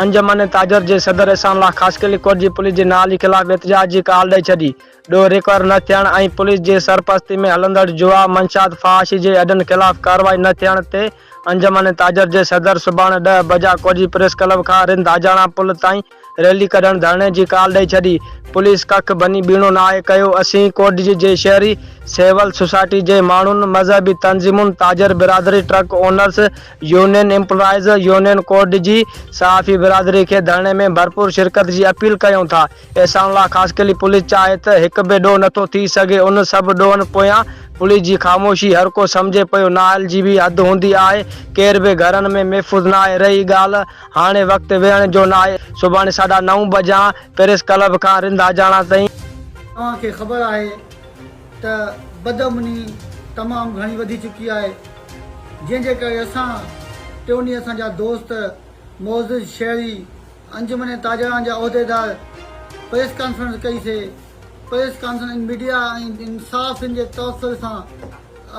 انجمن تاجر جي صدر احسان الله خاص کي لڪوٽ جي پوليس جي نااهلي خلاف احتجاج جي ڪال ڏئي ڇڏي. ڏوهه ريڪور نه ٿيڻ ۽ پوليس جي سرپرستي ۾ هلندڙ جوا، منشيات، فحاشي جي اڏن خلاف ڪارروائي نه ٿيڻ تي انجمن تاجر جي صدر سڀاڻ ڏهه بجا ڪوٽجي پريس ڪلب کان رند آجاڻا پل تائين ريلي ڪڍڻ ڌرڻي جي ڪال ڏئي ڇڏي. پوليس ڪک ڀڃي ٻيڻو ناهي ڪيو، اسين ڪوٽجي جي شهري، سول سوسائٽي جي ماڻهن، مذهبي تنظيمون، تاجر برادري، truck owners, union employees union ڪوڊ جي صحافي برادري کي ڌرڻي ۾ ڀرپور شرڪت جي اپيل ڪيون ٿا، احسان الله خاصخيلي پوليس چاهي ته هڪ به ڏوهه نٿو ٿي سگهي ان سڀ ڏوهن پويان پوليس جي خاموشي هر ڪو سمجهي پيو نااهل جي به حد هوندي آهي ڪير به گهرن ۾ محفوظ ناهي رهي ڳالهه هاڻي وقت ويهڻ جو ناهي سڀاڻي ساڍا نو بجان پريس ڪلب کان رنڌاجاڻا تائين. توهان کي خبر آهي ته بدامني تمام گهڻي وڌي چڪي آهي جنهن جي ڪري اسان ٽيوني اسان جا دوست، معزز شهري، انجمن تاجران جا عهديدار پريس ڪانفرنس ڪئي سي پريس ڪانفرنس ان ميڊيا ۽ صحافين جي توسل سان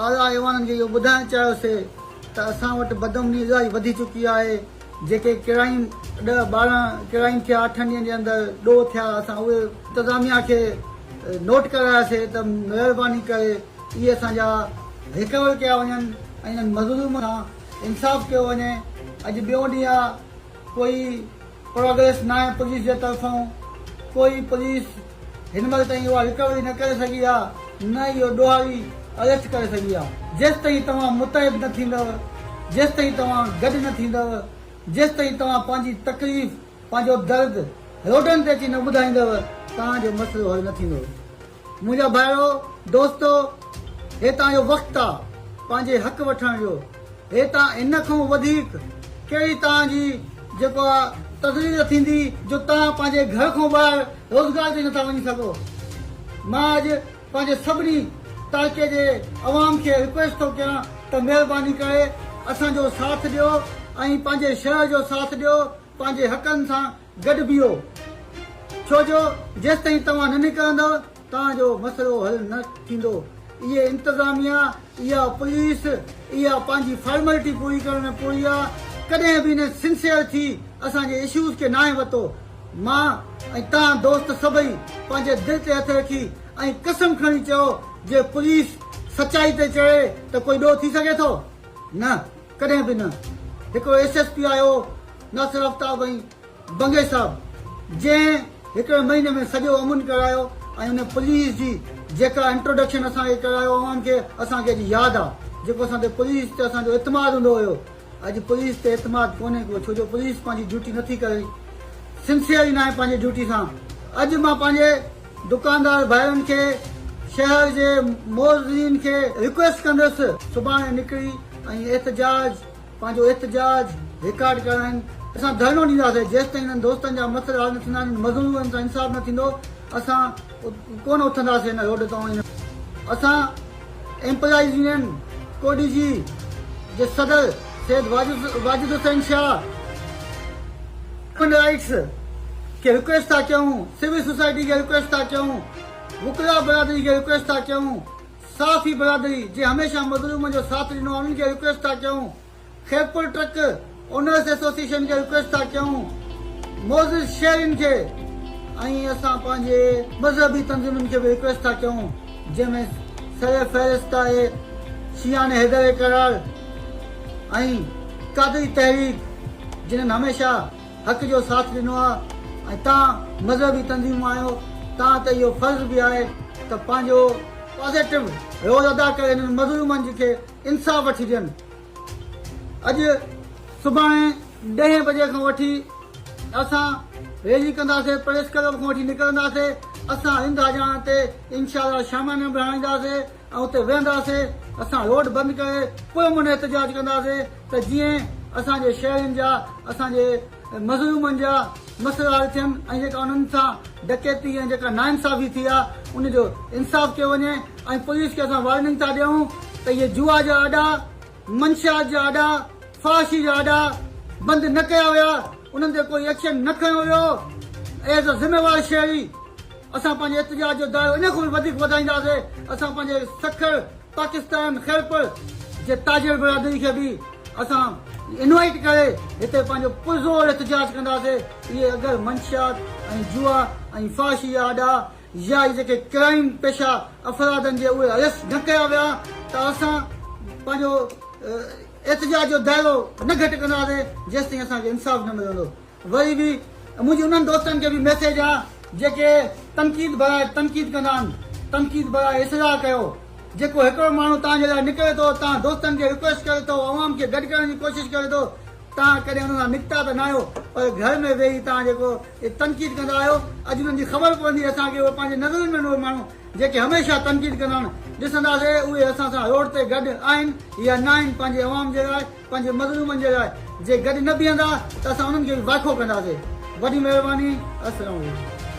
اعليٰ ايوانن کي اهو ٻڌائڻ چاهيو سي ته اسان وٽ بدامني الاهي وڌي چڪي آهي جيڪي ڪرائيم ڏهه ٻارهن ڪرائيم ٿيا اٺن ڏينهن جي اندر ڏوهه ٿيا اسان اهي انتظاميا کي نوٽ ڪراياسي ته مهرباني ڪري اهي اسان جا ريڪور ڪيا وڃن ۽ انهن مظلوم سان انصاف ڪيو وڃي اڄ ٻيون ڏينهن آ ڪوئي پروگريس ناهي پوليس جي طرفون ڪوئي پوليس هن مهل تائين اها ريڪوري نه ڪري سگهي آ نه ئي اهو ڏوهاري اريسٽ ڪري سگهي آ جيستائين توهان متحد نه ٿيندؤ جيستائين توهان گڏ نه ٿيندؤ جيستائين توهان پنهنجي تڪليف پنهنجو درد روڊن تي اچي نه ٻڌائيندؤ توهان جو مسئلو حل نه ٿيندو. منهنجا ڀائرو دوستو هي تان جو وقت آ پنهنجي حق وٺڻ جو هي تان هن کون وڌيڪ ڪهڙي تان جي جيڪو آ تذليل ٿيندي جو تان پنهنجي گهر کون ٻاهر روزگار تي نٿا وڃي سگهو مان اڄ پنهنجي سڀني تعلقي جي عوام کي رڪويسٽ ٿو ڪيان ته مهرباني ڪري اسان جو ساٿ ڏيو ۽ پنهنجي شهر جو ساٿ ڏيو پنهنجي حقن سان گڏ بيهو، ڇو جو جيستائين توهان نه نڪرندؤ توهان جو مسئلو حل نه ٿيندو، اهي انتظاميا، اها پوليس، اها پنهنجي فارملٽي پوري ڪرڻ ۾ پورهيا ڪڏهن به نه سنسيئر ٿي اسان جي اشوز کي ناهي وتو، مان ۽ توهان دوست سڀئي پنهنجي دل تي هٿ رکي ۽ قسم کڻي چئو جي پوليس سچائي تي چڙهي ته ڪوئي ڏوهه ٿي سگهي ٿو؟ نه. ڪڏهن به نه. هڪڙو ايس ايس پي آيو ناصر آفتاب ۽ بنگي صاحب جنهن هڪڙي مهيني ۾ سڄو امن ڪرايو ۽ ان پوليس جي جيڪا انٽروڊڪشن اسان کي ڪرايو عوام کي اسان کي اڄ ياد آ جيڪو اسان تي پوليس تي اسان جو اعتماد هوندو هيو اڄ پوليس تي اعتماد ڪونهي ڪو ڇو جو پوليس پنهنجي ڊيوٽي نٿي ڪري سنسيئر ئي ناهي پنهنجي ڊيوٽي سان اڄ مان پنهنجي دڪاندار ڀائرن کي شهر جي موذين کي رڪويسٽ ڪندس سڀاڻي نڪري ۽ احتجاج پنهنجو احتجاج رڪارڊ ڪرائين اسان ڌرڻو ڏينداسين جيستائين انهن دوستن جا مسئلا حل نه ٿيندا انهن مظلومن سان انصاف نه ٿيندو اسان ڪونه اٿنداسين ان روڊ تان اسان ايمپلائيز يونين ڪوڏي جي جي صدر سيد واجد حسين شاهه هيومن رائيٽس کي رڪويسٽ ٿا ڪيون سول سوسائٽي کي رڪويسٽ ٿا ڪيون وڪلا برادري کي رڪويسٽ ٿا ڪيون صحافي برادري جي هميشه مظلوم جو ساٿ ڏنو آهي انهن کي رڪويسٽ ٿا ڪيون خيرپور ٽرڪ اونرس ايسوسيئيشن کي رڪويسٽ ٿا ڪيون معزز شهرين کي ۽ اسان پنهنجي مذهبي تنظيمن کي به رڪويسٽ ٿا ڪيون جنهن ۾ سر فهرست آهي شيعان حيدر قرار ۽ قادري تحريڪ جنهن هميشه حق جو ساٿ ڏنو آهي ۽ تان مذهبي تنظيمون آهيو تان ته اهو فرض به آهي ته پنهنجو پازيٽو رول ادا ڪري هنن مظلومن جي کي انصاف وٺي ڏين اڄ سڀاڻي ڏهين بجي کان وٺي اسان ريلي ڪنداسين پريس ڪلب کان وٺي نڪرنداسين اسان هنڌ هجاڻ تي انشاء الله شامان ۾ به هڻائينداسين ۽ اتي ويهنداسين اسان روڊ بند ڪري پرامن احتجاج ڪنداسين ته جيئن اسان جي شهرين جا اسان جي مظلومن جا مسئلا حل ٿين ۽ جيڪا انهن سان ڊڪيتي ۽ جيڪا ناانصافي ٿي آ ان جو انصاف ڪيو وڃي ۽ پوليس کي اسان وارننگ ٿا ڏيون ته اهي جوا جا اڏا، منشيات جا اڏا، فحاشي جا اڏا بند نه ڪيا ويا انهن تي ڪوئي ايڪشن نه کنيو ويو ايز اي ذميوار شهري اسان پنهنجي احتجاج جو دائرو ان کان به وڌيڪ وڌائينداسي اسان پنهنجي سکر پاڪستان خيرپور جي تاجر برادري کي به اسان انوائيٽ ڪري هتي پنهنجو پرزور احتجاج ڪنداسين اهي اگر منشيات ۽ جوا ۽ فحاشي جا آڏا يا اهي جيڪي ڪرائيم پيشه افرادن جي اهي اريسٽ نه ڪيا ويا ته اسان پنهنجو احتجاج جو دائرو نه گهٽ ڪنداسين جيستائين اسان کي انصاف نه ملندو. وري به منهنجي انهن دوستن کي به ميسيج آ جيڪي تنقيد برائي تنقيد ڪندا آهن تنقيد برائي اصلاح ڪيو جيڪو هڪڙو ماڻهو توهان جي لاء نڪري ٿو توهان دوستن کي رڪويسٽ ڪري ٿو عوام کي گڏ ڪرڻ جي ڪوشش ڪري ٿو توهان ڪڏهن ان سان نڪتا ته نه آهيو پر گهر ۾ ويهي توهان جيڪو تنقيد ڪندا آهيو اڄ انهن جي خبر پوندي اسان کي اهي پنهنجي نظرن ۾ اهي ماڻهو جيڪي هميشه تنقيد ڪندا آهن ڏسنداسي اهي اسان سان روڊ تي گڏ آهن يا ناهن پنهنجي عوام جي لاء پنهنجي مظلومن جي لاء جي گڏ نه بيهندا ته اسان انهن کي به واکو ڪنداسين. وڏي مهرباني. السلام عليڪم.